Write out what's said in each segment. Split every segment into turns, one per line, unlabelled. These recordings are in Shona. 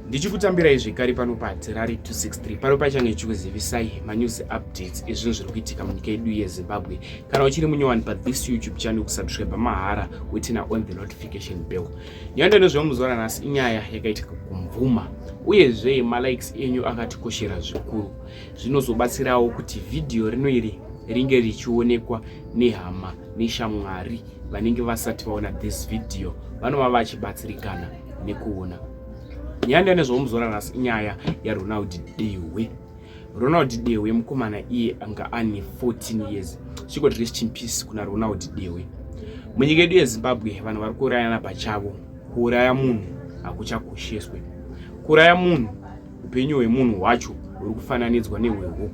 ndichikutambirai zvekare pano padzirari 263 pano paichange ichikuzivisai manews updates ezvinhu zviri kuitika munyika yedu yezimbabwe kana uchiri munyowani pathis youtube channel kusubscribe mahara wetina on the notification bell nyaya ndanozviva muzuva ranhasi inyaya yakaitika kumvuma uyezve malikes enyu akatikoshera zvikuru zvinozobatsirawo kuti vhidhiyo rino iri ringe richionekwa nehama neshamwari vanenge vasati vaona this video vanova vachibatsirikana nekuona nyaya ndiyo nezvaumuzora nhasi inyaya yaronald dehwe ronald dehwe mukomana iye anga ane 14 years chikoti rest in peace kuna ronald dehwe munyika yedu yezimbabwe vanhu vari kuurayana pachavo kuuraya munhu hakuchakosheswe kuuraya munhu Upenyu hwemunhu hwacho huri kufananidzwa nehwehuku.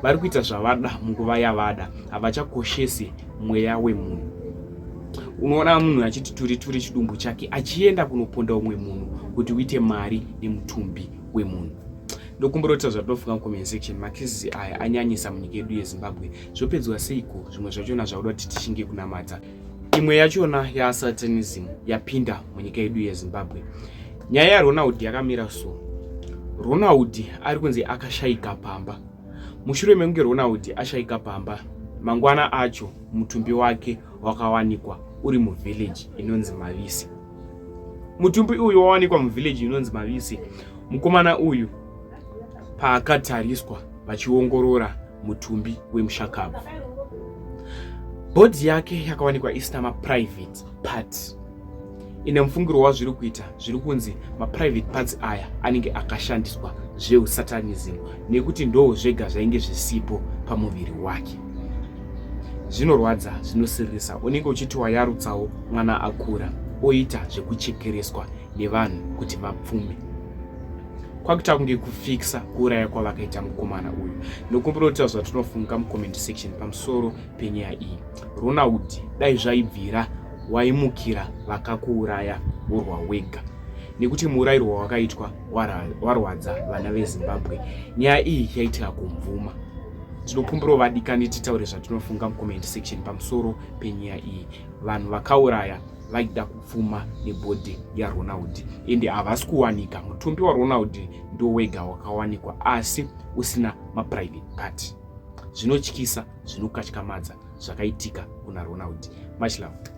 Vari kuita zvavada munguva yavada, havachakoshesi mweya wemunhu. Unoona munhu achiti turi turi chidumbu chake achienda kunoponda umwe munhu kuti uite mari nemutumbi wemunhu ndokumborota zvatofunga mucomment section makisisi aya anyanyisa munyika yedu yezimbabwe zvopedzwa seiko zvimwe zvachona zvauda kuti tishinge kunamata imwe yachona yasatanism yapinda munyika yedu yezimbabwe nyaya yaronald yakamira so ronald ari kunzi akashaika pamba mushure mekunge ronald ashaika pamba mangwana acho mutumbi wake wakawanikwa uri muvhillaji inonzi mavisi mutumbi uyu wawanikwa muvhillaji inonzi mavisi mukomana uyu paakatariswa vachiongorora mutumbi wemushakabvu. Bhodhi yake yakawanikwa isina maprivate parts. Ine mufungiro wazviri kuita zviri kunzi maprivate parts aya anenge akashandiswa zveusatanism nekuti ndoo zvega zvainge zvisipo pamuviri wake. Zvinorwadza, zvinosiririsa, unenge uchiti wayarutsawo mwana akura oita zvekuchekereswa nevanhu kuti vapfume. kwakuita kunge kufikisa kuuraya kwavakaita mukomana uyu nokumbira kutaura zvatinofunga mucomment section pamusoro penyaya iyi ronald dai zvaibvira waimukira vakakuuraya urwa wega nekuti muurayiro wawakaitwa warwadza vana vezimbabwe nyaya iyi yaitika kumvuma tinokumbirawo vadikani titaure zvatinofunga mucomment section pamusoro penyaya iyi vanhu vakauraya vaida kupfuma nebhodhi yaronald ende havasi kuwanika mutumbi waronald ndowega wakawanikwa asi usina maprivate party zvinotyisa zvinokatyamadza zvakaitika kuna ronald much love